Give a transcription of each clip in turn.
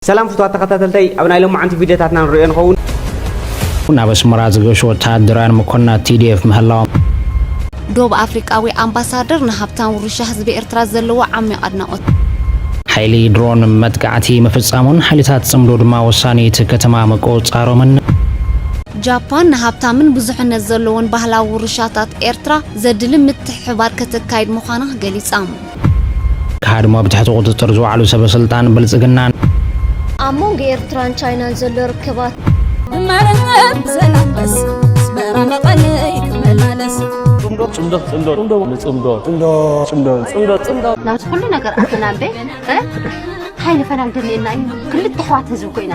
ሰላም ፍቱዋት ተኸታተልተይ ኣብ ናይ ሎማዓንቲ ቪድዮታትና ንሪኦ ንኸውን። ናብ ኣስመራ ዝገሹ ወተሃደራውያን መኮንናት ቲዲኤፍ ምህላዎም። ዶብ ኣፍሪቃዊ ኣምባሳደር ንሃብታም ውርሻ ህዝቢ ኤርትራ ዘለዎ ዓሚቕ ኣድናቖት። ሓይሊ ድሮን መጥቃዕቲ ምፍጻሙን ሓይልታት ጽምዶ ድማ ወሳኒ እቲ ከተማ ምቁጽጻሮምን። ጃፓን ንሃብታምን ብዙሕነት ዘለዎን ባህላዊ ውርሻታት ኤርትራ ዘድሊ ምትሕብባር ከተካይድ ምዃና ገሊጻ። ክሃድሙ ኣብ ትሕቲ ቁፅፅር ዝወዓሉ ሰበ ስልጣን ብልፅግና። ኣብ መንጎ ኤርትራን ቻይናን ዘሎ ርክባት ናብዚ ኩሉ ነገር ኣተናምበ ታይ ንፈላሊ ደሊየና እዩ ክልተ ኣሕዋት ህዝቢ ኮይና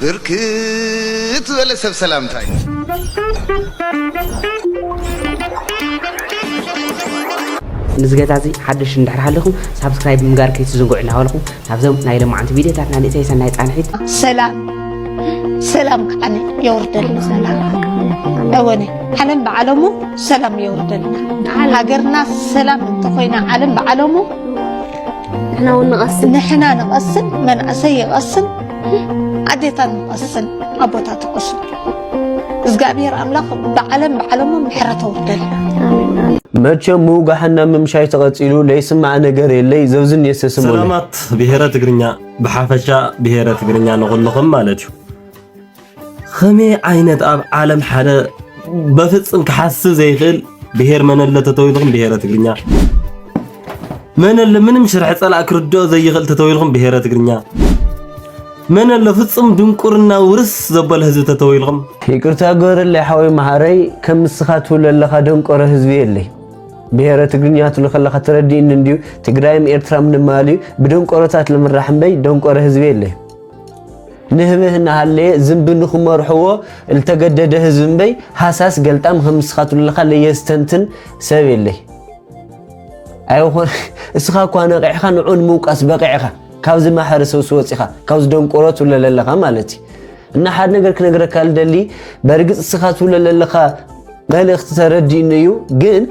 ብርክት ዝበለ ሰብ ሰላምታ እዩ። ንዚ ገዛ እዚ ሓደሽቲ እንድሕር ሃሊኹም ሳብስክራይብ ምግባር ከይትዝንግዑ እናበልኹ ናብዞም ናይ ሎምዓንቲ ቪድዮታትና ንእተይ ሰናይ ፃንሒት። ሰላም ሰላም ከዓኒ የውርደልና ሰላም እወኒ ዓለም ብዓለሙ ሰላም የውርደልና ሃገርና ሰላም እንተኾይና ዓለም ብዓለሙ ንሕና ንቐስን ንሕና ንቐስን መንእሰይ ይቐስን ኣዴታት ንቐስን ኣቦታት ንቐስን እግዚኣብሔር ኣምላኽ ብዓለም ብዓለሞም ምሕረት ኣውርደል መቸም ምውጋሕና ምምሻይ ተቐፂሉ ለይስማዕ ነገር የለይ ዘብዝን የሰስም ሰላማት ብሔረ ትግርኛ ብሓፈሻ ብሔረ ትግርኛ ንኹልኹም ማለት እዩ ኸመይ ዓይነት ኣብ ዓለም ሓደ በፍጽም ክሓስብ ዘይክእል ብሄር መነለ ተተዊልኹም ብሄረ ትግርኛ መነለ ምንም ሽርሒ ጸላእ ክርድኦ ዘይኽእል ተተዊልኹም ብሄረ ትግርኛ መነለ ፍጹም ድንቁርና ውርስ ዘበለ ህዝቢ ተተዊልኹም ይቅርታ ገበረለይ ሓወይ መሃረይ ከም ንስኻ ትብሎ ኣለኻ ደንቆረ ህዝቢ የለይ ብሄረ ትግርኛ ትብሎ ከለኻ ተረዲእኒ እንድዩ ትግራይም ኤርትራም ንማልዩ ብደንቆሮታት ልምራሕ እምበይ ደንቆረ ህዝቢ የለይ ንህብህ እናሃለየ ዝንቢ ንክመርሕዎ ልተገደደ ህዝቢ እምበይ ሃሳስ ገልጣም ከም ንስኻትሉ ለኻ ለየስተንትን ሰብ የለይ ኣይኾን እስኻ እኳ ነቂዕኻ ንዑ ንምውቃስ በቂዕኻ ካብዚ ማሕረ ሰውሲ ወፂኻ ካብዚ ደንቆሮ ትብለ ለለኻ ማለት እዩ እና ሓደ ነገር ክነግረካ ልደሊ በርግፅ እስኻ ትብለ ለለኻ መልእኽቲ ተረዲእኒ እዩ ግን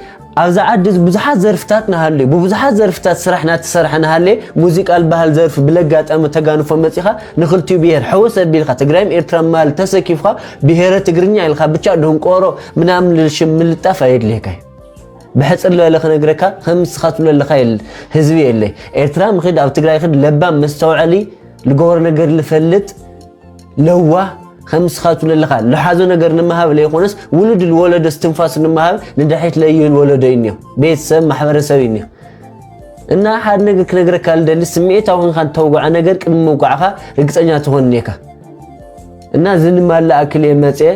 ኣብዛ ዓዲ ብዙሓት ዘርፍታት ናሃልዩ ብብዙሓት ዘርፍታት ስራሕ ናተሰርሐ ናሃለየ ሙዚቃ ልባሃል ዘርፊ ብለጋጣሚ ተጋንፎ መጺኻ ንኽልቲኡ ብሄር ሕውስ ኣቢልካ ትግራይም ኤርትራም ማል ተሰኪፍኻ ብሄረ ትግርኛ ኢልኻ ብቻ ደንቆሮ ምናምን ልል ሽም ምልጣፍ ኣየድልየካይ ብሕጽር ልበለ ክነግረካ ከም ንስኻ ትብሎ ኣለኻ ህዝቢ የለይ ኤርትራም ኽድ ኣብ ትግራይ ኽድ ለባም መስተውዐሊ ልገበሮ ነገር ልፈልጥ ለዋህ ከም ንስኻቱ ለለኻ ልሓዞ ነገር ንምሃብ ለይኾነስ ውሉድ ልወለዶ ስትንፋሱ ንምሃብ ንድሕሪት ለዩ ልወለዶ እዩ እኒኦ ቤተሰብ ማሕበረሰብ እዩ እኒኦ እና ሓደ ነገር ክነግረካ ልደሊ ስምዒታዊ ኮንካ እንተውግዓ ነገር ቅድሚ ምውቃዕካ ርግፀኛ ትኾን እኒካ እና እዚ ንማላ ኣክል እየ መፅየ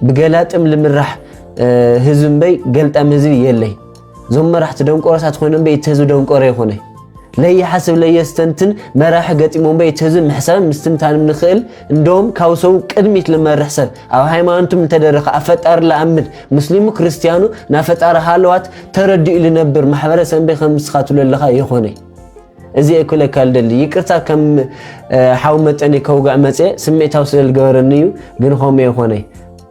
ብገላጥም ልምራሕ ህዝቢ እምበይ ገልጣም ህዝቢ የለይ ዞም መራሕቲ ደንቆሮታት ኮይኖም በይ እቲ ህዝቢ ደንቆሮ ይኾነ ለይሓስብ ለየስተንትን መራሒ ገጢሞም በይ እቲ ህዝቢ ምሕሳብን ምስትንታንም ንኽእል እንደውም ካብ ሰው ቅድሚት ልመርሕ ሰብ ኣብ ሃይማኖቱም እንተደረኸ ኣብ ፈጣሪ ልኣምን ሙስሊሙ ክርስቲያኑ ናብ ፈጣሪ ሃለዋት ተረዲኡ ልነብር ማሕበረሰብ በይ ከም ምስኻትሉ ኣለኻ ይኾነ እዚ ክለካ ልደሊ ይቅርታ ከም ሓው መጠኒ ከውግዕ መፅአ ስምዒታዊ ስለልገበረኒ እዩ ግን ኾመ ይኾነ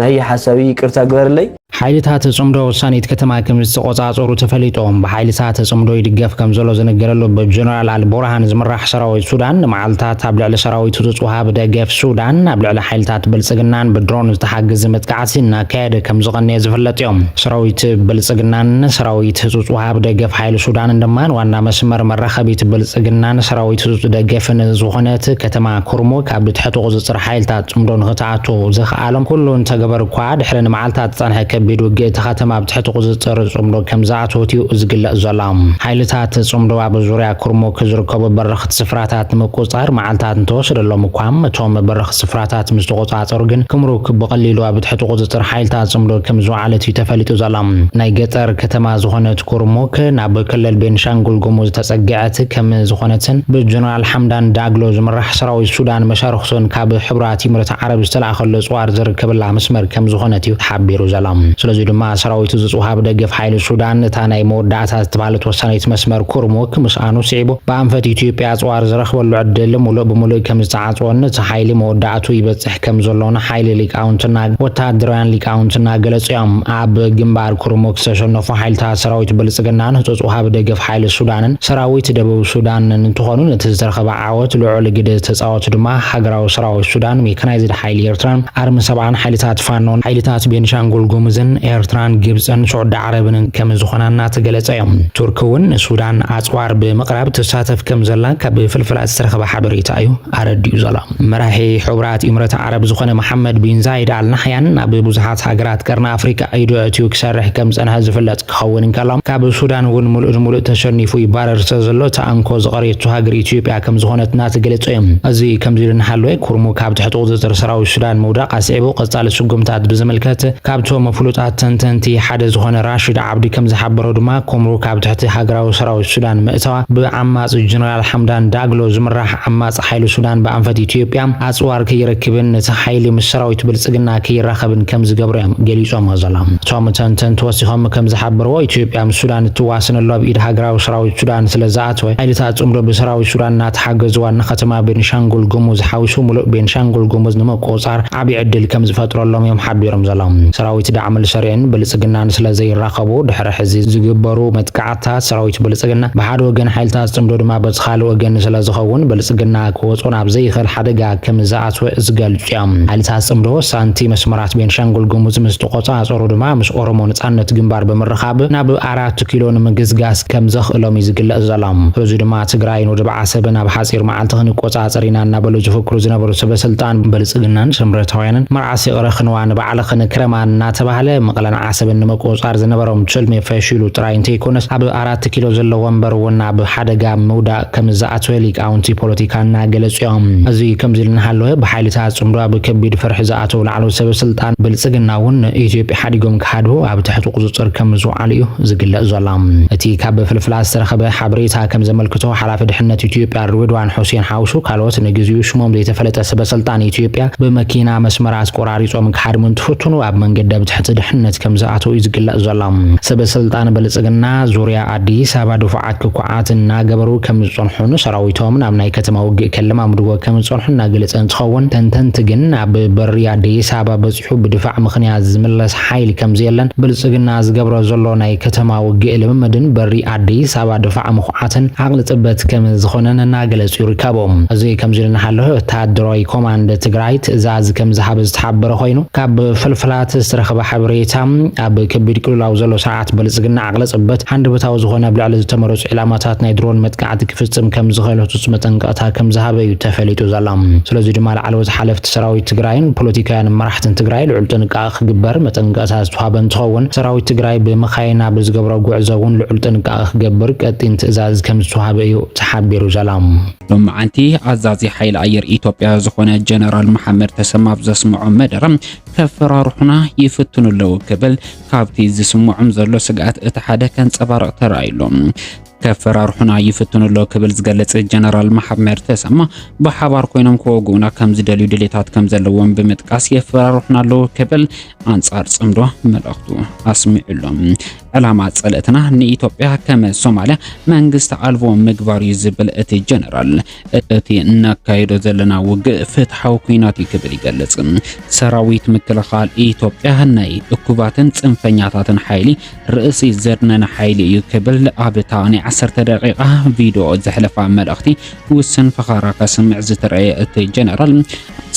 ናሂ ሓሳዊ ይቅርታ ግበርለይ። ሓይልታት ጽምዶ ውሳኔት ከተማ ከምዝተቖጻጸሩ ተፈሊጡ። ብሓይልታት ጽምዶ ይድገፍ ከምዘሎ ዝንገረሉ ብጀነራል ኣልቡርሃን ዝምራሕ ሰራዊት ሱዳን ንመዓልታት ኣብ ልዕሊ ሰራዊቱ ዝጽውሃብ ደገፍ ሱዳን ኣብ ልዕሊ ሓይልታት ብልጽግናን ብድሮን ዝተሓገዘ መጥቃዕቲ እናካየደ ከምዝቐነየ ዝፍለጥዮ። ሰራዊት ብልጽግናን ሰራዊት ህጹጽ ውሃብ ደገፍ ሓይሊ ሱዳንን ድማ ዋና መስመር መራኸቢት ብልጽግናን ሰራዊት ህጹጽ ደገፍን ዝኾነት ከተማ ኩርሙክ ኣብ ትሕቲ ቁጽጽር ሓይልታት ጽምዶ ንኽትኣቱ ዝክኣሎም ኩሉ እንተገበሩ'ኳ፣ ድሕሪ ንመዓልታት ዝጸንሐ ከቢድ ውግእ እታ ከተማ ኣብ ትሕቲ ቁጽጽር ጽምዶ ከምዝኣተወት'ዩ ዝግለጽ ዘሎ። ሓይልታት ጽምዶ ኣብ ዙርያ ኩርሙክ ዝርከቡ በረኽቲ ስፍራታት ንምቁጽጻር መዓልታት እንተወሰደሎም'ኳ፣ እቶም በረኽቲ ስፍራታት ምስ ተቖጻጸሩ ግን ክምሩክ ብቐሊሉ ኣብ ትሕቲ ቁጽጽር ሓይልታት ጽምዶ ከምዝወዓለት'ዩ ተፈሊጡ ዘሎ። ናይ ገጠር ከተማ ዝኾነት ኩርሙክ፣ ናብ ክልል ቤንሻንጉል ጉሙዝ ተጸጊዐት ከምዝኾነትን ብጀነራል ሓምዳን ዳግሎ ዝምራሕ ኣሕ ሰራዊት ሱዳን መሻርኽቱን ካብ ሕቡራት ኢምረት ዓረብ ዝተላእከሎ ጽዋር ዝርከበላ መስመር ከምዝኾነት እዩ ተሓቢሩ ዘሎ። ስለዙይ ድማ ሰራዊቱ ዝጽውሃ ብደገፍ ሓይሊ ሱዳን እታ ናይ መወዳእታ ዝተብሃለት ወሳኒት መስመር ኩርሙክ ምስኣኑ ስዒቡ ብኣንፈት ኢትዮጵያ ጽዋር ዝረኽበሉ ዕድል ሙሉእ ብሙሉእ ከምዝተዓጽወን እቲ ሓይሊ መወዳእትኡ ይበጽሕ ከምዘሎን ሓይሊ ሊቃውንትና ወተሃደራውያን ሊቃውንትና ገለጹ እዮም። ኣብ ግንባር ኩርሙክ ዝተሸነፉ ሓይልታት ሰራዊት ብልጽግናን ህጹጽ ወሃቢ ደገፍ ሓይሊ ሱዳንን ሰራዊት ደቡብ ሱዳንን እንትኾኑ ነቲ ዝተረኸበ ዓወት ልዑል ግደ ዝተጻወቱ ድማ ሃገራዊ ሰራዊት ሱዳን፣ ሜካናይዝድ ሓይሊ ኤርትራን ኣርሚ ሰብዓን፣ ሓይልታት ፋኖን፣ ሓይልታት ቤንሻንጉል ጉሙዝን፣ ኤርትራን፣ ግብጽን ሱዕዲ ዓረብንን ከምዝኾና እናተገለጸ እዩ። ቱርኪ እውን ንሱዳን ኣጽዋር ብምቕራብ ትሳተፍ ከምዘላ ካብ ፍልፍላት ዝተረኸበ ሓበሬታ እዩ ኣረዲኡ ዘሎ። መራሒ ሕቡራት ኢምረት ዓረብ ዝኾነ መሓመድ ቢን ዛይድ ኣል ናሕያን ናብ ብዙሓት ሃገራት ቀርኒ ኣፍሪቃ ኢዱ ኣእትዩ ክሰርሕ ከምዝጸንሐ ዝፍለጥ። ክኸውን እንከሎ፣ ካብ ሱዳን እውን ምሉእ ንምሉእ ተሸኒፉ ይባረር ስለዘሎ፣ እታ እንኮ ዝቐረየቶ ሃገር ኢትዮጵያ ከምዝኾነት እናተገለጸ እዩ። እዚ ከምዚ ኢሉ እናሃለወ፣ ኩርሙክ ኣብ ትሕቲ ቁጽጽር ሰራዊት ሱዳን ምውዳቕ ኣስዒቡ ቀጻሊ ስጉምታት ብዝምልከት ካብቶም ፍሉጣት ተንተንቲ ሓደ ዝኾነ ራሺድ ዓብዲ ከምዝሓበሮ ድማ፣ ኩምሩክ ኣብ ትሕቲ ሃገራዊ ሰራዊት ሱዳን ምእታዋ ብዓማጺ ጀነራል ሓምዳን ዳግሎ ዝምራሕ ዓማጺ ሓይሊ ሱዳን ብኣንፈት ኢትዮጵያ ኣጽዋር ከይረክብን እቲ ሓይሊ ምስ ሰራዊት ብልጽግና ከይራኸብን ከም ዝገብሮ እዮም ገሊጾሞ ዘሎም። እቶም ተንተንቲ ወሲኾም ከም ዝሓበርዎ፣ ኢትዮጵያ ምስ ሱዳን እትዋስነሉ ኣብ ኢድ ሃገራዊ ሰራዊት ሱዳን ስለ ዝኣተወ፣ ሓይልታት ጽምዶ ብሰራዊት ሱዳን እናተሓገዙ ዋና ከተማ ቤኒሻንጉል ጉሙዝ ሓዊሱ ምሉእ ቤኒሻንጉል ጉሙዝ ንምቁጽጻር ዓቢ ዕድል ከም ዝፈጥረሎም እዮም ሓቢሮም ዘሎም። ሰራዊት ዳዕምል ሰሪዕን ብልጽግናን ስለ ዘይራኸቡ ድሕሪ ሕዚ ዝግበሩ መጥቃዕቲ፣ ሓይልታት ሰራዊት ብልፅግና ብሓደ ወገን ሓይልታት ፅምዶ ድማ በቲ ካልእ ወገን ስለዝኸውን ብልፅግና ክወፅኦ ናብ ዘይኽእል ሓደጋ ከምዝኣትወ ዝገልፁ እዮም። ሓይልታት ፅምዶ ሳንቲ መስመራት ቤንሻንጉል ጉሙዝ ምስ ተቖፃፀሩ ድማ ምስ ኦሮሞ ነፃነት ግንባር ብምርኻብ ናብ ኣራት ኪሎ ንምግስጋስ ከምዘኽእሎም እዩ ዝግለፅ ዘሎ። በዙይ ድማ ትግራይን ወደብ ዓሰብን ኣብ ሓፂር መዓልቲ ክንቆፃፀር ኢና እናበሉ ዝፍክሩ ዝነበሩ ሰበስልጣን ብልፅግናን ስምረታውያንን መርዓስ ይቕረ ክንዋ ንባዕልኽን ክረማ እናተባህለ መቐለን ዓሰብን ንምቁፅፃር ዝነበሮም ትልሚ ፈሺሉ ጥራይ እንተይኮነስ ኣብ ኣራት ኪሎ ዘሎ ወንበር እውን ኣብ ሓደጋ ምውዳቕ ከምዝኣተወ ሊቃውንቲ ፖለቲካ እናገለፁ እዮም። እዚ ከምዚ ኢሉ እናሃለወ ብሓይልታት ፅምዶ ኣብ ከቢድ ፍርሒ ዝኣተው ላዕለዎት ሰበ ስልጣን ብልፅግና እውን ንኢትዮጵያ ሓዲጎም ክሃድሙ ኣብ ትሕቲ ቁፅፅር ከምዝወዓሉ እዩ ዝግለፅ ዘሎ። እቲ ካብ ፍልፍላት ዝተረኸበ ሓበሬታ ከምዘመልክቶ ሓላፊ ድሕነት ኢትዮጵያ ሬድዋን ሑሴን ሓውሱ ካልኦት ንግዚኡ ሽሞም ዘይተፈለጠ ሰበ ስልጣን ኢትዮጵያ ብመኪና መስመር ኣስቆራ ኣሪጾም ክሓድሙ እንትፍትኑ ኣብ መንገዲ ኣብ ትሕቲ ድሕነት ከም ዝኣተው እዩ ዝግለጽ ዘሎ። ሰበ ስልጣን ብልጽግና ዙርያ ኣዲስ ኣበባ ድፉዓት ክኩዓት እናገበሩ ከም ዝጸንሑን ሰራዊቶም ናብ ናይ ከተማ ውግእ ከለማምድዎ ከም ዝጸንሑ እናገለጸ እንትኸውን ተንተንቲ ግን ኣብ በሪ ኣዲስ ኣበባ በጺሑ ብድፋዕ ምኽንያት ዝምለስ ሓይሊ ከም ዘየለን ብልጽግና ዝገብሮ ዘሎ ናይ ከተማ ውግእ ልምምድን በሪ ኣዲስ ኣበባ ድፋዕ ዓተን ዓቕሊ ጽበት ከም ዝኾነን እናገለጹ ይርከቡ። እዚ ከምዚ ኢሉ እናሃሎ ወተሃደራዊ ኮማንድ ትግራይ ትእዛዝ ከም ዝሃበ ዝተሓበረ ኮይኑ ካብ ፍልፍላት ዝተረኸበ ሓበሬታ ኣብ ከቢድ ቅልውላው ዘሎ ስርዓት ብልጽግና ዓቕሊ ጽበት ሃንደበታዊ ዝኾነ ኣብ ልዕሊ ዝተመረጹ ዒላማታት ናይ ድሮን መጥቃዕቲ ክፍጽም ከም ዝኽእል ህጹጽ መጠንቀቕታ ከም ዝሃበ እዩ ተፈሊጡ ዘሎ። ስለዚ ድማ ላዕለዎት ሓለፍቲ ሰራዊት ትግራይን ፖለቲካውያን መራሕትን ትግራይ ልዑል ጥንቃቐ ክግበር መጠንቀቕታ ዝተውሃበ እንትኸውን፣ ሰራዊት ትግራይ ብመኻይን ኣብ ዝገብሮ ጉዕዞ እውን ልዑል ጥንቃቐ ክገብር ቀጢን ትእዛዝ ከምዝተውሃበ እዩ ተሓቢሩ ዘሎ። ሎማዓንቲ ኣዛዚ ሓይሊ ኣየር ኢትዮጵያ ዝኾነ ጀነራል መሓመድ ተሰማ ኣብ ዘስምዖ መደረ ከፈራርሑና ይፍትኑ ኣለዉ ክብል ካብቲ ዝስምዖም ዘሎ ስግኣት እቲ ሓደ ከንጸባርቕ ተራእዩ ኣሎ። ከፈራርሑና ይፍትኑ ኣሎ ክብል ዝገልጽ ጀነራል መሓመድ ተሰማ ብሓባር ኮይኖም ክወግኡና ከም ዝደልዩ ድሌታት ከም ዘለዎም ብምጥቃስ የፈራርሑና ኣለዉ ክብል ኣንጻር ጽምዶ መልእኽቱ ኣስሚዑ ኣሎ። ዕላማ ጸለትና ንኢትዮጵያ ከም ሶማልያ መንግስቲ ኣልቦ ምግባር እዩ ዝብል እቲ ጀነራል እቲ እናካየዶ ዘለና ውግእ ፍትሓዊ ኩናት እዩ ክብል ይገልጽ። ሰራዊት ምክልኻል ኢትዮጵያ ናይ እኩባትን ጽንፈኛታትን ሓይሊ ርእሲ ዘድነነ ሓይሊ እዩ ክብል ኣብታ ናይ ዓሰርተ ደቂቓ ቪድዮ ዘሕለፋ መልእኽቲ ውስን ፈኸራ ከስምዕ ዝተረእየ እቲ ጀነራል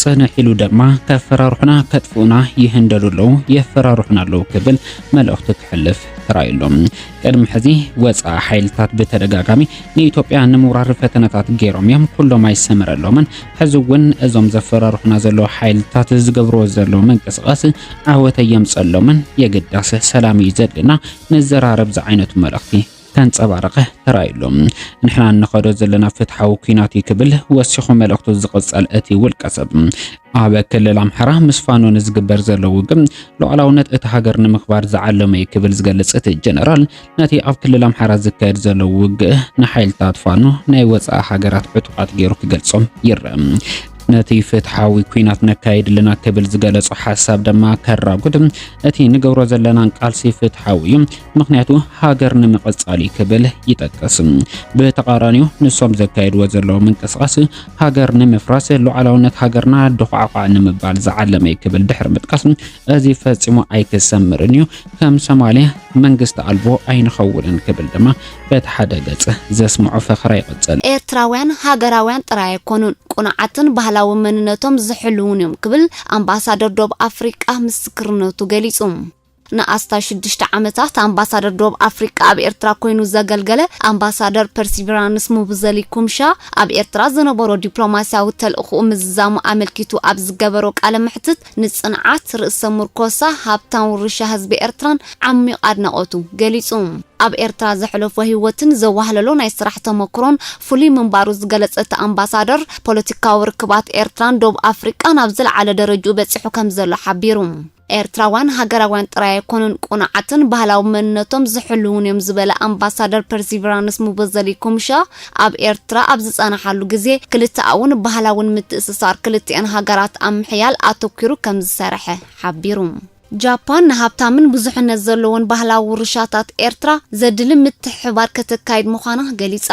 ጽንሕ ኢሉ ድማ ከፈራርሑና ከጥፍኡና ይህንደሉ ኣለዉ የፈራርሑና ኣለዉ ክብል መልእኽቱ ክሕልፍ ተራእዩ ኣሎ። ቅድሚ ሕዚ ወፃኢ ሓይልታት ብተደጋጋሚ ንኢትዮጵያ ንምውራር ፈተነታት ገይሮም እዮም፣ ኩሎም ኣይሰመረሎምን። ሕዚ እውን እዞም ዘፈራርሑና ዘለዉ ሓይልታት ዝገብርዎ ዘለዉ ምንቅስቓስ ዓወት ኣየምፀሎምን። የግዳስ ሰላም እዩ ዘድልና ንዘራረብ ዝዓይነቱ መልእኽቲ ከንጸባረቐ ተራእዩሉ። ንሕና እንኸዶ ዘለና ፍትሓዊ ኩናት እዩ ክብል ወሲኹ መልእኽቱ ዝቕጸል እቲ ውልቀ ሰብ ኣብ ክልል ኣምሓራ ምስ ፋኖ ንዝግበር ዘሎ ውግም ሉዓላውነት እቲ ሃገር ንምኽባር ዝዓለመ እዩ ክብል ዝገልጽ እቲ ጀነራል ነቲ ኣብ ክልል ኣምሓራ ዝካየድ ዘሎ ውግእ ንሓይልታት ፋኖ ናይ ወጻኢ ሃገራት ዕጡቓት ገይሩ ክገልጾም ይረአ። ነቲ ፍትሓዊ ኩናት ነካይድ ኣለና ክብል ዝገለጾ ሓሳብ ድማ ከራጉድ እቲ ንገብሮ ዘለናን ቃልሲ ፍትሓዊ እዩ፣ ምክንያቱ ሃገር ንምቕጻል እዩ ክብል ይጠቅስ። ብተቃራኒው ንሶም ዘካየድዎ ዘለዉ ምንቅስቃስ ሃገር ንምፍራስ ሉዓላውነት ሃገርና ድኳዕኳዕ ንምባል ዝዓለመ እዩ ክብል ድሕሪ ምጥቃስ እዚ ፈጺሙ ኣይክሰምርን እዩ፣ ከም ሶማልያ መንግስቲ ኣልቦ ኣይንኸውንን ክብል ድማ በቲ ሓደ ገጽ ዘስምዖ ፈኸራ ይቕጽል። ኤርትራውያን ሃገራውያን ጥራይ ኣይኮኑን፣ ቅኑዓትን ባህላዊ መንነቶም ዝሕልዉን እዮም ክብል ኣምባሳደር ዶብ ኣፍሪቃ ምስክርነቱ ገሊጹ። ንኣስታት ሽዱሽተ ዓመታት ኣምባሳደር ዶብ ኣፍሪቃ ኣብ ኤርትራ ኮይኑ ዘገልገለ ኣምባሳደር ፐርሲቪራንስ ሙቡዘሊ ኩምሻ ኣብ ኤርትራ ዝነበሮ ዲፕሎማስያዊ ተልእኹኡ ምዝዛሙ ኣመልኪቱ ኣብ ዝገበሮ ቃለ መሕትት ንጽንዓት ርእሰ ምርኮሳ ሃብታም ውርሻ ህዝቢ ኤርትራን ዓሚቕ ኣድናቖቱ ገሊጹ። ኣብ ኤርትራ ዘሕለፎ ህይወትን ዘዋህለሎ ናይ ስራሕ ተመክሮን ፍሉይ ምንባሩ ዝገለጸ እቲ ኣምባሳደር፣ ፖለቲካዊ ርክባት ኤርትራን ዶብ ኣፍሪቃን ኣብ ዝለዓለ ደረጅኡ በጺሑ ከምዘሎ ሓቢሩ። ኤርትራውያን ሃገራውያን ጥራይ ኣይኮኑን ቅኑዓትን ባህላዊ መንነቶም ዝሕልዉን'ዮም ዝበለ ኣምባሳደር ፐርሲቪራንስ ሙበዘሊ ኩምሻ፣ ኣብ ኤርትራ ኣብ ዝጸናሓሉ ግዜ ክልተኣውን ባህላውን ምትእስሳር ክልቲኣን ሃገራት ኣብ ምሕያል ኣተኲሩ ከምዝሰርሐ ሓቢሩ። ጃፓን ንሃብታምን ብዙሕነት ዘለዎን ባህላዊ ውርሻታት ኤርትራ ዘድሊ ምትሕብባር ከተካይድ ምዃና ገሊጻ።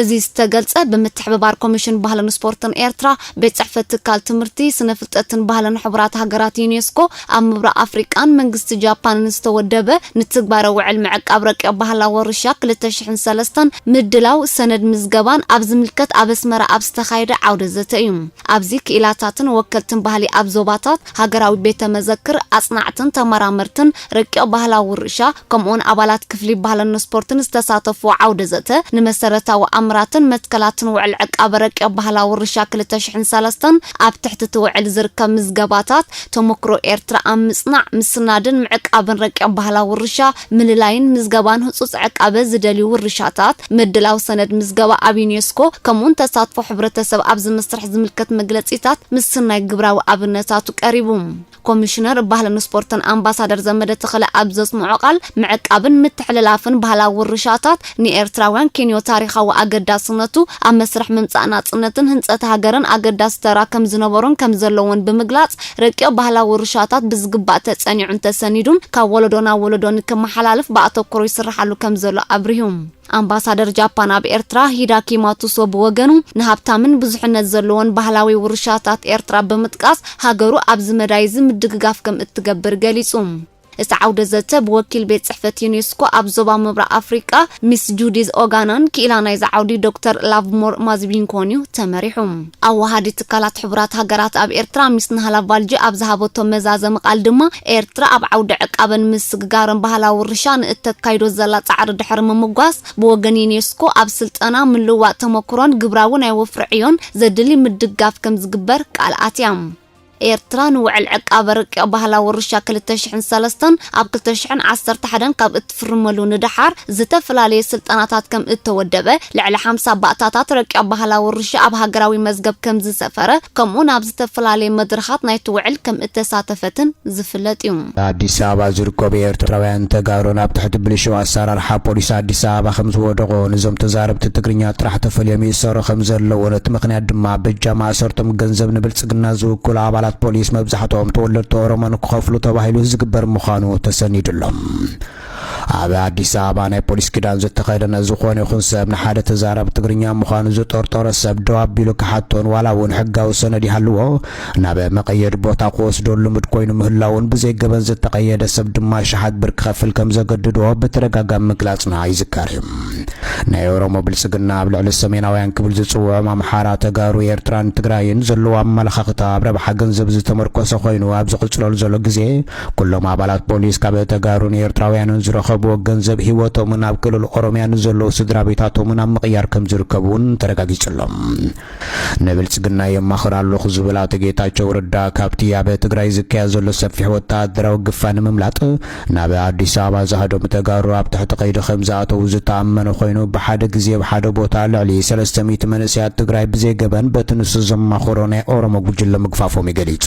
እዚ ዝተገልጸ ብምትሕብባር ኮሚሽን ባህልን ስፖርትን ኤርትራ፣ ቤት ጽሕፈት ትካል ትምህርቲ፣ ስነ ፍልጠትን ባህልን ሕቡራት ሃገራት፣ ዩኔስኮ፣ ኣብ ምብራቕ ኣፍሪቃን መንግስቲ ጃፓንን ዝተወደበ ንትግባረ ውዕል ምዕቃብ ረቂቕ ባህላዊ ወርሻ ክልተ ሽሕን ሰለስተን ምድላው ሰነድ ምዝገባን ኣብ ዝምልከት ኣብ ኣስመራ ኣብ ዝተኻየደ ዓውደ ዘተ እዩ። ኣብዚ ክኢላታትን ወከልትን ባህሊ ኣብ ዞባታት፣ ሃገራዊ ቤተ መዘክር፣ ኣጽናዕትን ተመራመርትን ረቂቕ ባህላዊ ውርሻ፣ ከምኡውን ኣባላት ክፍሊ ባህለኖ ስፖርትን ዝተሳተፍዎ ዓውደ ዘተ ንመሰረታዊ ኣምራትን መትከላትን ውዕል ዕቃበ ረቂቕ ባህላዊ ውርሻ ክልተ ሽሕን ሰለስተን ኣብ ትሕቲ እቲ ውዕል ዝርከብ ምዝገባታት ተሞክሮ ኤርትራ ኣብ ምጽናዕ፣ ምስናድን ምዕቃብን ረቂቕ ባህላዊ ውርሻ፣ ምልላይን ምዝገባን ህጹጽ ዕቃበ ዝደልዩ ውርሻታት፣ ምድላው ሰነድ ምዝገባ ኣብ ዩኔስኮ፣ ከምኡውን ተሳትፎ ሕብረተሰብ ኣብዚ መስርሕ ዝምልከት መግለጺታት ምስናይ ግብራዊ ኣብነታቱ ቀሪቡ። ኮሚሽነር ባህልን ስፖርትን ኣምባሳደር ዘመደ ተኽለ ኣብ ዘስምዖ ቃል፣ ምዕቃብን ምትሕልላፍን ባህላዊ ውርሻታት ንኤርትራውያን ኬንዮ ታሪኻዊ ኣገዳስነቱ፣ ኣብ መስርሕ ምምጻእ ናጽነትን ህንጸት ሃገርን ኣገዳሲ ተራ ከምዝነበሮን ከምዘለዎን ብምግላጽ፣ ረቂቕ ባህላዊ ውርሻታት ብዝግባእ ተጸኒዑን ተሰኒዱን ካብ ወለዶ ናብ ወለዶ ንክመሓላለፍ ብኣተኩሮ ይስርሓሉ ከምዘሎ ኣብሪሁ። ኣምባሳደር ጃፓን ኣብ ኤርትራ ሂዳኪ ማቱሶ ብወገኑ፣ ንሃብታምን ብዙሕነት ዘለዎን ባህላዊ ውርሻታት ኤርትራ ብምጥቃስ፣ ሃገሩ ኣብዚ መዳይ'ዚ ምድግጋፍ ከም እትገብር ገሊጹ። እቲ ዓውደ-ዘተ፣ ብወኪል ቤት ጽሕፈት ዩኔስኮ ኣብ ዞባ ምብራቕ ኣፍሪቃ ሚስ ጁዲዝ ኦጋናን ክኢላ ናይዚ ዓውዲ ዶክተር ላቭሞር ማዝቢንኮን'ዩ ተመሪሑ። ኣወሃዲ ትካላት ሕቡራት ሃገራት ኣብ ኤርትራ ሚስ ናህላ ቫልጂ ኣብ ዝሃበቶ መዛዘሚ ቃል ድማ፣ ኤርትራ ኣብ ዓውዲ ዕቃበን ምስግጋርን ባህላዊ ውርሻ ንእተካይዶ ዘላ ጻዕሪ ድሕሪ ምምጓስ፣ ብወገን ዩኔስኮ ኣብ ስልጠና፣ ምልውዋጥ ተመኩሮን ግብራዊ ናይ ወፍሪ ዕዮን ዘድሊ ምድጋፍ ከምዝግበር ቃል ኣትያ። ኤርትራ ንውዕል ዕቃበ ርቂቕ ባህላዊ ውርሻ ክልተ ሽሕን ሰለስተን ኣብ ክልተ ሽሕን ዓሰርተ ሓደን ካብ እትፍርመሉ ንደሓር ዝተፈላለየ ስልጠናታት ከም እተወደበ፣ ልዕሊ ሓምሳ ባእታታት ረቂቕ ባህላዊ ውርሻ ኣብ ሃገራዊ መዝገብ ከም ዝሰፈረ ከምኡውን ኣብ ዝተፈላለየ መድረኻት ናይቲ ውዕል ከም እተሳተፈትን ዝፍለጥ ኢዩ። ኣዲስ ኣበባ ዝርከቡ ኤርትራውያን ተጋሩ ናብ ትሕቲ ብልሹው ኣሰራርሓ ፖሊስ ኣዲስ ኣበባ ከምዝወደቑን እዞም ተዛረብቲ ትግርኛ ጥራሕ ተፈልዮም ይእሰሩ ከምዘለዉን እቲ ምኽንያት ድማ በጃ ማእሰርቶም ገንዘብ ንብልጽግና ዝውክሉ ኣባላት ፖሊስ መብዛሕትኦም ተወለድቲ ኦሮሞ ንክኸፍሉ ተባሂሉ ዝግበር ምዃኑ ተሰኒዱሎም ኣብ ኣዲስ ኣበባ ናይ ፖሊስ ክዳን ዝተኸደነ ዝኾነ ይኹን ሰብ ንሓደ ተዛራቢ ትግርኛ ምዃኑ ዝጠርጠሮ ሰብ ደው ኣቢሉ ክሓቶን ዋላ እውን ሕጋዊ ሰነድ ይሃልዎ ናብ መቐየዲ ቦታ ክወስዶ ልሙድ ኮይኑ ምህላውን ብዘይ ገበን ዝተቐየደ ሰብ ድማ ሸሓት ብር ክኸፍል ከም ዘገድዶ ብተደጋጋሚ ምግላፅና ይዝከር እዩ። ናይ ኦሮሞ ብልፅግና ኣብ ልዕሊ ሰሜናውያን ክብል ዝፅውዖም ኣምሓራ፣ ተጋሩ፣ ኤርትራን ትግራይን ዘለዎ ኣመለኻኽታ ኣብ ረብሓ ገንዘብ ዝተመርኮሰ ኮይኑ ኣብ ዝቕፅለሉ ዘሎ ግዜ ኩሎም ኣባላት ፖሊስ ካብ ተጋሩን ኤርትራውያንን ዝረኸብዎ ገንዘብ ህይወቶምን ኣብ ክልል ኦሮምያ ንዘለዉ ስድራቤታቶምን ኣብ ምቕያር ከምዝርከቡ እውን ተረጋጊጹ ኣሎ። ንብልጽግና የማኽር ኣለኹ ዝብል ኣቶ ጌታቸው ረዳ ካብቲ ኣብ ትግራይ ዝካየድ ዘሎ ሰፊሕ ወተሃደራዊ ግፋ ንምምላጥ ናብ ኣዲስ ኣበባ ዝሃደሙ ተጋሩ ኣብ ትሕቲ ቀይዲ ከምዝኣተዉ ዝተኣመነ ኮይኑ ብሓደ ግዜ ኣብ ሓደ ቦታ ልዕሊ ሰለስተ ሚእቲ መንእሰያት ትግራይ ብዘይ ገበን በቲ ንሱ ዘማኸሮ ናይ ኦሮሞ ጉጅለ ምግፋፎም እዩ ገሊጹ።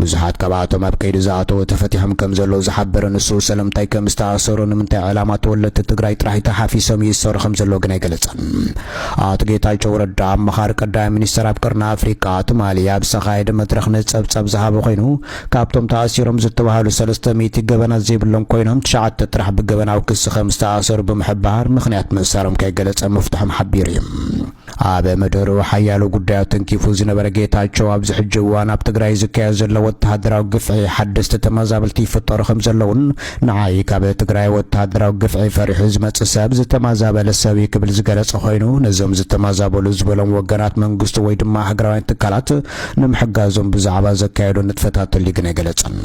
ብዙሓት ካብኣቶም ኣብ ቀይዲ ዝኣተዉ ተፈቲሖም ከም ዘለዉ ዝሓበረ ንሱ፣ ሰለምንታይ ከም ዝተኣሰሩ፣ ንምንታይ ዕላማ ተወለድቲ ትግራይ ጥራሕ ተሓፊሶም ይእሰሩ ከም ዘለዉ ግን ኣይገለጸን። ኣቶ ጌታቸው ረዳ፣ ኣማኻሪ ቀዳማይ ሚኒስተር ኣብ ቀርኒ ኣፍሪቃ፣ ትማሊ ኣብ ዝተኻየደ መድረኽ ንጸብጻብ ዝሃበ ኮይኑ፣ ካብቶም ተኣሲሮም ዝተባህሉ ሰለስተ ሚእቲ ገበናት ዘይብሎም ኮይኖም ትሽዓተ ጥራሕ ብገበናዊ ክሲ ከም ዝተኣሰሩ ብምሕባር ምኽንያት ምእሳሮም ከይገለጸ ምፍትሖም ሓቢሩ እዩ። ኣብ ምድሩ ሓያሎ ጉዳያት ተንኪፉ ዝነበረ ጌታቸው ኣብዚ ሕጂ እዋን ኣብ ትግራይ ዝካየድ ዘሎ ወተሃደራዊ ግፍዒ ሓደስቲ ተመዛበልቲ ይፍጠሩ ከም ዘለውን ንዓይ ካብ ትግራይ ወተሃደራዊ ግፍዒ ፈሪሑ ዝመጽእ ሰብ ዝተመዛበለ ሰብ እዩ ክብል ዝገለጸ ኮይኑ ነዞም ዝተመዛበሉ ዝበሎም ወገናት መንግስቱ ወይ ድማ ሃገራውያን ትካላት ንምሕጋዞም ብዛዕባ ዘካየዶ ንጥፈታት ተሊግን ኣይገለጸን።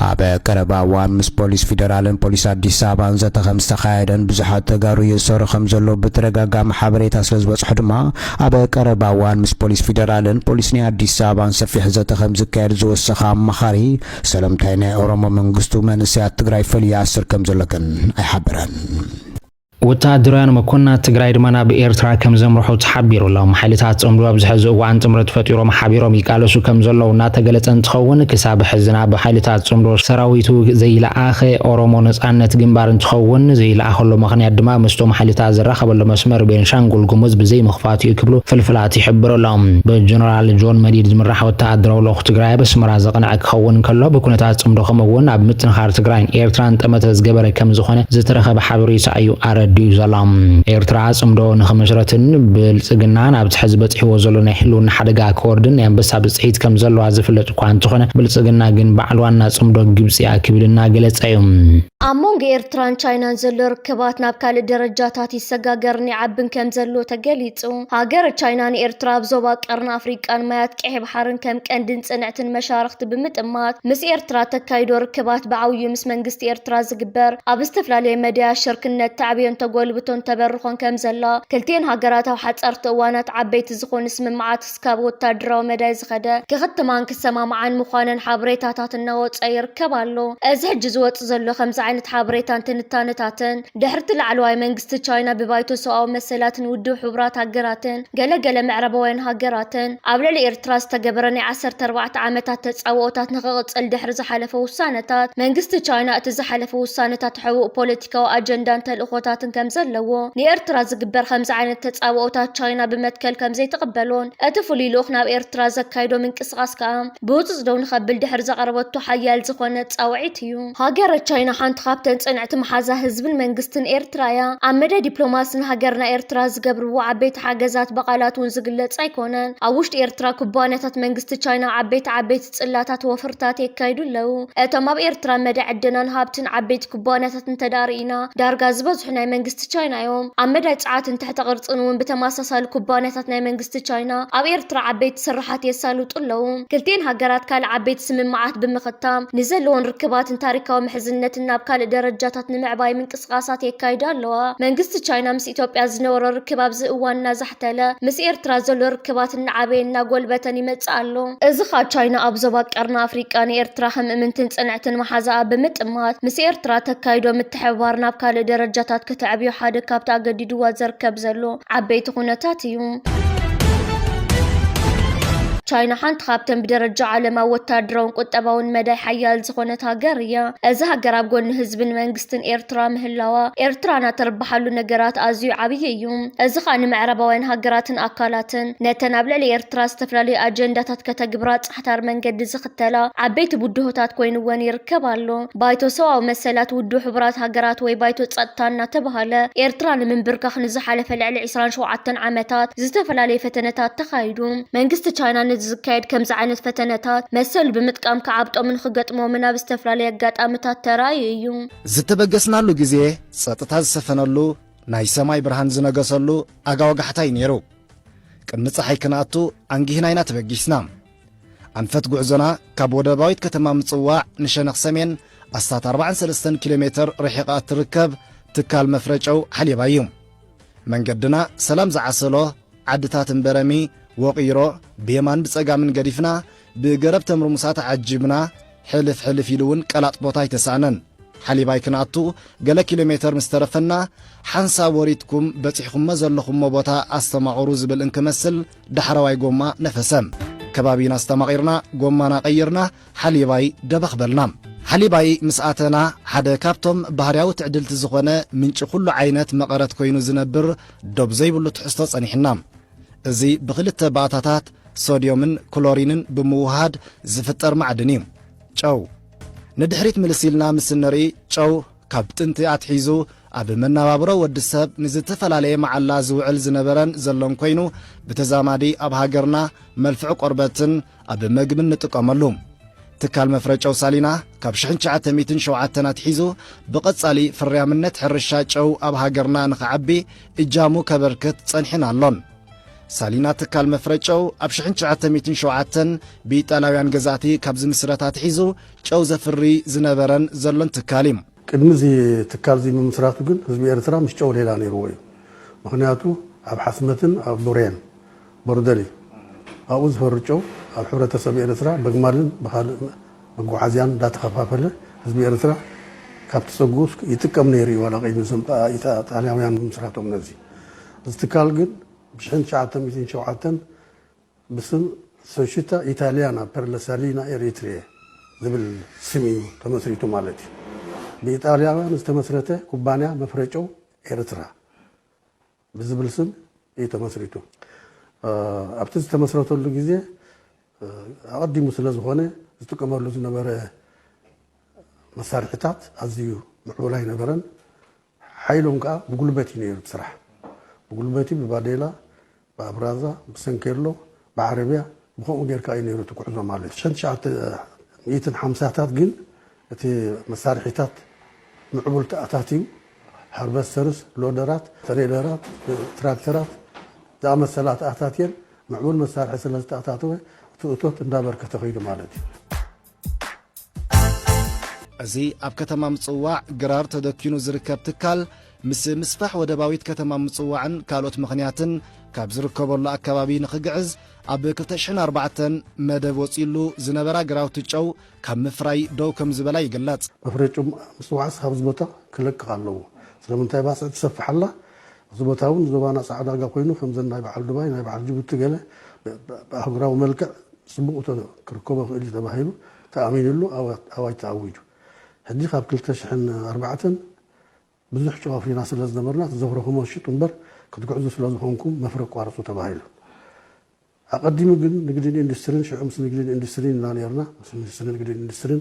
ኣብ ቀረባ እዋን ምስ ፖሊስ ፊደራልን ፖሊስ ኣዲስ ኣበባን ዘተ ከምዝተኻየደን ብዙሓት ተጋሩ ይእሰሩ ከምዘለዉ ብተደጋጋሚ ሓበሬታ ስለዝበፅሖ ድማ ኣብ ቀረባ እዋን ምስ ፖሊስ ፊደራልን ፖሊስ ናይ ኣዲስ ኣበባን ሰፊሕ ዘተ ከምዝካየድ ዝወሰኸ ኣማኻሪ ሰለምታይ ናይ ኦሮሞ መንግስቱ መንእሰያት ትግራይ ፈልዩ ይኣስር ከምዘሎ ግን ኣይሓበረን። ወተሃደራውያን መኮንናት ትግራይ ድማ ናብ ኤርትራ ከም ዘምርሑ ተሓቢሩ ኣሎ። ሓይልታት ጽምዶ ኣብዚ ሕዚ እዋን ጥምረት ፈጢሮም ሓቢሮም ይቃለሱ ከም ዘለዉ እናተገለጸ እንትኸውን ክሳብ ሕዚ ናብ ሓይልታት ጽምዶ ሰራዊቱ ዘይለኣኸ ኦሮሞ ነጻነት ግንባር እንትኸውን ዘይለኣኸሉ ምኽንያት ድማ ምስቶም ሓይልታት ዝራኸበሉ መስመር ቤንሻንጉል ጉሙዝ ብዘይምኽፋቱ እዩ ክብሉ ፍልፍላት ይሕብሩ ኣለው። ብጀነራል ጆን መዲድ ዝምራሕ ወተሃደራዊ ልኡኽ ትግራይ ኣብ ኣስመራ ዘቕነዐ ክኸውን ከሎ ብኩነታት ጽምዶ ከምኡ እውን ኣብ ምጥንኻር ትግራይን ኤርትራን ጠመተ ዝገበረ ከም ዝኾነ ዝተረኸበ ሓበሬታ እዩ ኣረዲኡ ዘሎ። ኤርትራ ጽምዶ ንኽምስረትን ብልጽግና ናብቲ ሕዚ በጺሕዎ ዘሎ ናይ ሕልውና ሓደጋ ክወርድን ናይ ኣንበሳ ብጽሒት ከም ዘለዋ ዝፍለጥ እኳ እንተኾነ፣ ብልጽግና ግን በዓል ዋና ጽምዶ ግብጺ እያ ክብል እናገለጸ እዩ። ኣብ መንጎ ኤርትራን ቻይናን ዘሎ ርክባት ናብ ካልእ ደረጃታት ይሰጋገርን ይዓብን ከም ዘሎ ተገሊጹ። ሃገረ ቻይና ንኤርትራ ኣብ ዞባ ቀርኒ ኣፍሪቃን ማያት ቀይሕ ባሕርን ከም ቀንድን ጽንዕትን መሻርኽቲ ብምጥማት ምስ ኤርትራ እተካይዶ ርክባት ብዓብዩ ምስ መንግስቲ ኤርትራ ዝግበር ኣብ ዝተፈላለየ መዳያት ሽርክነት ተዕብዮን ተጎልብቶን ተበርኾን ከምዘላ ክልቲኤን ሃገራት ኣብ ሓጸርቲ እዋናት ዓበይቲ ዝኾኑ ስምምዓት እስካብ ወታደራዊ መዳይ ዝኸደ ክኽትማን ክሰማምዓን ምዃነን ሓበሬታታት እናወጸ ይርከብ ኣሎ። እዚ ሕጂ ዝወጽእ ዘሎ ከምዚ ዓይነት ሓበሬታን ትንታነታትን ድሕሪ'ቲ ላዕለዋይ መንግስቲ ቻይና ብባይቶ ሰብኣዊ መሰላትን ውድብ ሕቡራት ሃገራትን ገለ ገለ ምዕራባውያን ሃገራትን ኣብ ልዕሊ ኤርትራ ዝተገበረ ናይ ዓሰርተ ኣርባዕተ ዓመታት ተጻብኦታት ንኽቕጽል ድሕሪ ዝሓለፈ ውሳነታት መንግስቲ ቻይና እቲ ዝሓለፈ ውሳነታት ሕቡእ ፖለቲካዊ ኣጀንዳን ተልእኾታትን ከምዘለዎ ንኤርትራ ዝግበር ከምዚ ዓይነት ተጻብኦታት ቻይና ብመትከል ከምዘይትቕበሎን እቲ ፍሉይ ልኡኽ ናብ ኤርትራ ዘካይዶ ምንቅስቓስ ከኣ ብህጹጽ ደው ንኸብል ድሕሪ ዘቕረበቶ ሓያል ዝኾነ ጻውዒት እዩ። ሃገረ ቻይና ሓንቲ ካብተን ፅንዕቲ መሓዛ ህዝብን መንግስትን ኤርትራ እያ። ኣብ መዳይ ዲፕሎማሲ ንሃገርና ኤርትራ ዝገብርዎ ዓበይቲ ሓገዛት ብቓላት እውን ዝግለፅ ኣይኮነን። ኣብ ውሽጢ ኤርትራ ኩባንያታት መንግስቲ ቻይና ዓበይቲ ዓበይቲ ፅላታት ወፍርታት የካይዱ ኣለው። እቶም ኣብ ኤርትራ መዳይ ዕደናን ሃብትን ዓበይቲ ኩባንያታት እንተድኣ ርኢና ዳርጋ ዝበዝሑ ናይ መንግስቲ ቻይና እዮም። ኣብ መዳይ ፅዓትን ትሕተ ቅርፅን እውን ብተመሳሳሊ ኩባንያታት ናይ መንግስቲ መንግስቲ ቻይና ኣብ ኤርትራ ዓበይቲ ስርሓት የሳልጡ ኣለዉ። ክልቲኤን ሃገራት ካልእ ዓበይቲ ስምምዓት ብምኽታም ንዘለወን ርክባትን ታሪካዊ ምሕዝነትን ናብ ካልእ ደረጃታት ንምዕባይ ምንቅስቓሳት የካይዳ ኣለዋ። መንግስቲ ቻይና ምስ ኢትዮጵያ ዝነበሮ ርክብ ኣብዚ እዋን እናዛሕተለ ምስ ኤርትራ ዘሎ ርክባት እናዓበየን እናጎልበተን ይመጽእ ኣሎ። እዚ ከኣ ቻይና ኣብ ዞባ ቀርኒ ኣፍሪቃ ንኤርትራ ከም እምንትን ጽንዕትን መሓዛኣ ብምጥማት ምስ ኤርትራ ተካይዶ ምትሕብባር ናብ ካልእ ደረጃታት ከተዕብዮ ሓደ ካብቲ ኣገዲዱዋ ዘርከብ ዘሎ ዓበይቲ ኩነታት እዩ። ቻይና ሓንቲ ካብተን ብደረጃ ዓለም ኣብ ወታደራውን ቁጠባውን መዳይ ሓያል ዝኾነት ሃገር እያ። እዚ ሃገር ኣብ ጎኒ ህዝብን መንግስትን ኤርትራ ምህላዋ ኤርትራና ተርብሓሉ ነገራት ኣዝዩ ዓብዪ እዩ። እዚ ከዓ ንምዕራባውያን ሃገራትን ኣካላትን ነተን ኣብ ልዕሊ ኤርትራ ዝተፈላለዩ ኣጀንዳታት ከተግብራ ዳሕታር መንገዲ ዝኽተላ ዓበይቲ ብድሆታት ኮይኑወን ይርከብ ኣሎ። ባይቶ ሰብኣዊ መሰላት ውድብ ሕቡራት ሃገራት ወይ ባይቶ ጸጥታ እናተበሃለ ኤርትራ ንምንብርካኽ ንዝሓለፈ ልዕሊ ዕስራን ሸውዓተን ዓመታት ዝተፈላለዩ ፈተነታት ተኻይዱ። መንግስቲ ቻይና ነዚ ዝካየድ ከምዚ ዓይነት ፈተነታት መሰሉ ብምጥቃም ክዓብጦምን ክገጥሞምን ኣብ ዝተፈላለዩ ኣጋጣምታት ተራእዩ እዩ። ዝተበገስናሉ ግዜ ጸጥታ ዝሰፈነሉ ናይ ሰማይ ብርሃን ዝነገሰሉ ኣጋ ወጋሕታ እዩ ነይሩ። ቅድሚ ፀሓይ ክንኣቱ ኣንጊህና ኢና ተበጊስና። ኣንፈት ጉዕዞና ካብ ወደባዊት ከተማ ምጽዋዕ ንሸነኽ ሰሜን ኣስታት ኣርባዓን ሰለስተን ኪሎ ሜተር ርሒቓ እትርከብ ትካል መፍረ ጨው ሓሌባ እዩ። መንገድና ሰላም ዝዓሰሎ ዓድታት እምበረሚ፣ ወቒሮ፣ ብየማን ብጸጋምን ገዲፍና ብገረብ ተምርሙሳ ተዓጂብና ሕልፍ ሕልፍ ኢሉ እውን ቀላጥፎት ኣይተሳእነን። ሓሊባይ ክንኣቱ ገለ ኪሎ ሜተር ምስ ተረፈና ሓንሳብ ወሪድኩም በጺሕኩሞ ዘለኹሞ ቦታ ኣስተማቕሩ ዝብል እንክመስል ዳሕረዋይ ጎማ ነፈሰ። ከባቢና ኣስተማቒርና ጎማና ቀይርና ሓሊባይ ደበኽ በልና። ሓሊባይ ምስ ኣተና ሓደ ካብቶም ባህርያዊ ትዕድልቲ ዝኾነ ምንጪ ኩሉ ዓይነት መቐረት ኮይኑ ዝነብር ዶብ ዘይብሉ ትሕዝቶ ጸኒሕና። እዚ ብኽልተ ባእታታት ሶድዮምን ክሎሪንን ብምውህሃድ ዝፍጠር ማዕድን እዩ። ጨው። ንድሕሪት ምልስ ኢልና ምስ እንርኢ ጨው ካብ ጥንቲ ኣትሒዙ ኣብ መነባብሮ ወዲ ሰብ ንዝተፈላለየ መዓላ ዝውዕል ዝነበረን ዘሎን ኮይኑ ብተዛማዲ ኣብ ሃገርና መልፍዒ ቆርበትን ኣብ መግቢ እንጥቀመሉ ትካል መፍረ ጨው ሳሊና ካብ ሽሕን ትሽዓተ ሚእትን ሸውዓተን ኣትሒዙ ብቐጻሊ ፍርያምነት ሕርሻ ጨው ኣብ ሃገርና ንኽዓቢ እጃሙ ከበርክት ጸኒሕን ኣሎን። ሳሊና ትካል መፍረ ጨው ኣብ ሽሕን ትሽዓተ ሚእትን ሸውዓተን ብኢጣልያውያን ገዛእቲ ካብ ዝምስረት ኣትሒዙ ጨው ዘፍሪ ዝነበረን ዘሎን ትካል እዩ። ቅድሚ እዚ ትካል እዚ ምምስራቱ ግን ህዝቢ ኤርትራ ምስ ጨው ሌላ ነይርዎ እዩ። ምኽንያቱ ኣብ ሓስመትን ኣብ ቡሬን ቦርደሪ ኣብኡ ዝፈሪ ጨው ኣብ ሕብረተሰብ ኤርትራ በግማልን ብኻልእ መጎዓዝያን እንዳተኸፋፈለ ህዝቢ ኤርትራ ካብቲ ጸግኡ ይጥቀም ነይሩ እዩ ዋላ ቅድሚ እዞም ጣልያውያን ምምስራቶም ነዚ እዚ ትካል ግን ብሽሕን ትሽዓተ ሚእትን ሸውዓተን ብስም ሶሽታ ኢታልያና ፐር ለ ሳሊና ኤሪትሪየ ዝብል ስም እዩ ተመስሪቱ ማለት እዩ ብኢጣልያውያን ዝተመስረተ ኩባንያ መፍረ ጨው ኤርትራ ብዝብል ስም እዩ ተመስሪቱ። ኣብቲ ዝተመስረተሉ ግዜ ኣቐዲሙ ስለዝኾነ ዝጥቀመሉ ዝነበረ መሳርሒታት ኣዝዩ ምዕቡል ኣይነበረን። ሓይሎም ከዓ ብጉልበት እዩ ነይሩ እቲ ስራሕ። ብጉልበት እዩ ብባዴላ፣ ብኣብራዛ፣ ብሰንኬሎ፣ ብዓረብያ ብኸምኡ ጌርካ እዩ ነይሩ እቲ ጉዕዞ ማለት እዩ። ሸን ትሽዓተ ሚእትን ሓምሳታት ግን እቲ መሳርሒታት ምዕቡል ተኣታትዩ ሃርቨስተርስ፣ ሎደራት፣ ተሬለራት፣ ትራክተራት ዝኣመሰላ ተኣታትየን ምዕቡል መሳርሒ ስለዝተኣታተወ እቲ እቶት እንዳበርከተ ከይዱ ማለት እዩ። እዚ ኣብ ከተማ ምጽዋዕ ግራር ተደኪኑ ዝርከብ ትካል ምስ ምስፋሕ ወደባዊት ከተማ ምጽዋዕን ካልኦት ምኽንያትን ካብ ዝርከበሉ ኣከባቢ ንኽግዕዝ ኣብ 2004 መደብ ወጺሉ ዝነበራ ግራውቲ ጨው ካብ ምፍራይ ደው ከም ዝበላ ይግለጽ። መፍረይ ጨው ምጽዋዕስ ካብዚ ቦታ ክለቅቕ ኣለዎ። ስለምንታይ ባጽዕ ትሰፍሕ ኣላ? እዚ ቦታ እውን ዞባና ፃዕዳጋ ኮይኑ ከምዘን ናይ በዓል ዱባይ ናይ በዓል ጅቡቲ ገለ ብኣህጉራዊ መልክዕ ፅቡቕ እቶ ክርከቦ ክእል እዩ ተባሂሉ ተኣሚንሉ ኣዋጅ ተኣዊጁ። ሕጂ ካብ ክልተ ሽሕን ኣርባዕተን ብዙሕ ጨው ኣፍሪና ስለ ዝነበርና እቲ ዘፍረኹሞ ሽጡ እምበር ክትግዕዙ ስለ ዝኾንኩም መፍረ ኣቋርፁ ተባሂሉ። ኣቐዲሙ ግን ንግድን ኢንዱስትሪን ሽዑ ምስ ንግድን ኢንዱስትሪን ኢና ነይርና፣ ምስ ሚኒስትሪ ንግድን ኢንዱስትሪን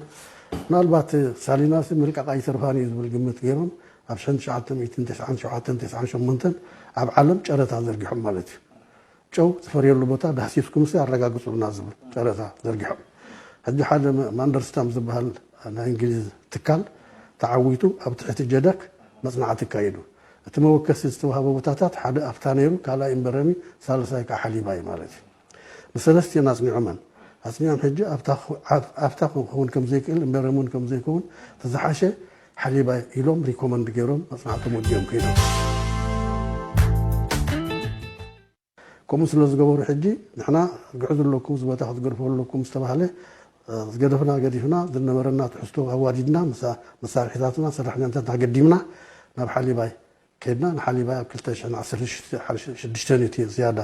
ምናልባት ሳሊናሲ ምልቃቕ ኣይተርፋን እዩ ዝብል ግምት ገይሮም ኣብ ሽሕን ትሽዓተ ሚእትን ተስዓን ሸውዓተን ተስዓን ሸሞንተን ኣብ ዓለም ጨረታ ዘርጊሖም ማለት እዩ። ጨው ዝፈርየሉ ቦታ ዳህሲስኩምሲ ኣረጋግፁልና ዝብል ጨረታ ዘርጊሖም። ሕጂ ሓደ ማንደርስታም ዝበሃል ናይ እንግሊዝ ትካል ተዓዊቱ ኣብ ትሕቲ ጀደክ መፅናዕቲ ኣካይዱ። እቲ መወከሲ ዝተዋህቦ ቦታታት ሓደ ኣፍታ ነይሩ፣ ካልኣይ እምበረሚ፣ ሳልሳይ ከኣ ሓሊባ እዩ ማለት እዩ። ንሰለስቲኤን ኣጽኒዖመን። ኣጽኒዖም ሕጂ ኣፍታ ክኸውን ከም ዘይክእል እምበረሚ እውን ከም ዘይከውን እቲ ዝሓሸ ሓሊባ ኢሎም ሪኮመንድ ገይሮም መጽናዕቶም ወዲኦም ከይዶም። ከምኡ ስለ ዝገበሩ ሕጂ ንሕና ግዕዙ ኣለኩም እዚ ቦታ ክትገድፍዎ ኣለኩም ምስ ተባህለ ዝገደፍና ገዲፍና ዝነበረና ትሕዝቶ ኣዋዲድና ምስ መሳርሒታትና ሰራሕተኛታትና ገዲምና ናብ ሓሊባይ ከድና ንሓሊባይ ኣብ ክልተ ሽሕን ዓሰርተ ሽዱሽተን እዩ እቲ ዝያዳ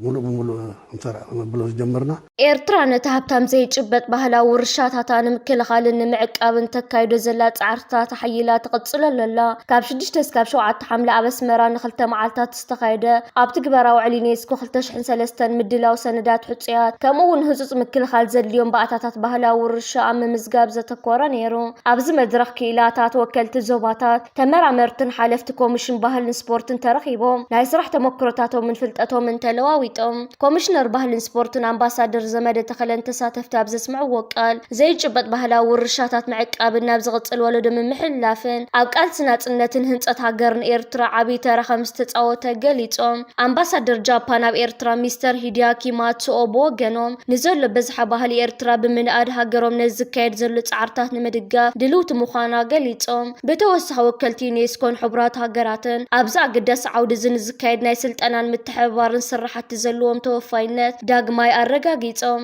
ምሉእ ብምሉእ እንተ ነብሎ ዝጀመርና ኤርትራ ነቲ ሃብታም ዘይጭበጥ ባህላዊ ውርሻታታ ንምክልኻልን ንምዕቃብን ተካይዶ ዘላ ጻዕርታት ኣሐይላ ትቕጽለሉ ኣላ። ካብ ሽዱሽተ እስካብ ሸውዓተ ሓምለ ኣብ ኣስመራ ንክልተ መዓልታት ዝተኻየደ ኣብ ትግበራ ውዕል ዩኔስኮ ክልተ ሽሕን ሰለስተን ምድላው ሰነዳት ሕጹያት ከምኡ'ውን ህጹጽ ምክልኻል ዘድልዮም ባእታታት ባህላዊ ውርሻ ኣብ ምምዝጋብ ዘተኮረ ነይሩ። ኣብዚ መድረኽ ክኢላታት ወከልቲ ዞባታት፣ ተመራመርትን ሓለፍቲ ኮሚሽን ባህልን ስፖርትን ተረኺቦም ናይ ስራሕ ተሞክሮታቶምን ፍልጠቶምን ተለዋዊጦም። ኮሚሽነር ባህልን ስፖርትን ኣምባሳደር ዘመደ ተኸለን ተሳተፍቲ ኣብ ዘስምዕዎ ቃል፣ ዘይጭበጥ ባህላዊ ውርሻታት ምዕቃብን ናብ ዝቕፅል ወለዶ ምምሕልላፍን ኣብ ቃልሲ ናፅነትን ህንፀት ሃገርን ኤርትራ ዓብዪ ተራ ከምዝተፃወተ ገሊፆም። ኣምባሳደር ጃፓን ኣብ ኤርትራ ሚስተር ሂዲያኪ ማትሱኦ ብወገኖም፣ ንዘሎ ብዝሓ ባህሊ ኤርትራ ብምንኣድ ሃገሮም ነዚ ዝካየድ ዘሎ ፃዕርታት ንምድጋፍ ድልውቲ ምዃና ገሊፆም። ብተወሳኺ ወከልቲ ዩኔስኮን ሕቡራት ሃገራትን ኣብዚ ኣገዳሲ ዓውዲ እዚ ንዝካየድ ናይ ስልጠናን ምትሕብባርን ስራሕቲ ዘለዎም ተወፋይነት ዳግማይ ኣረጋጊፆም።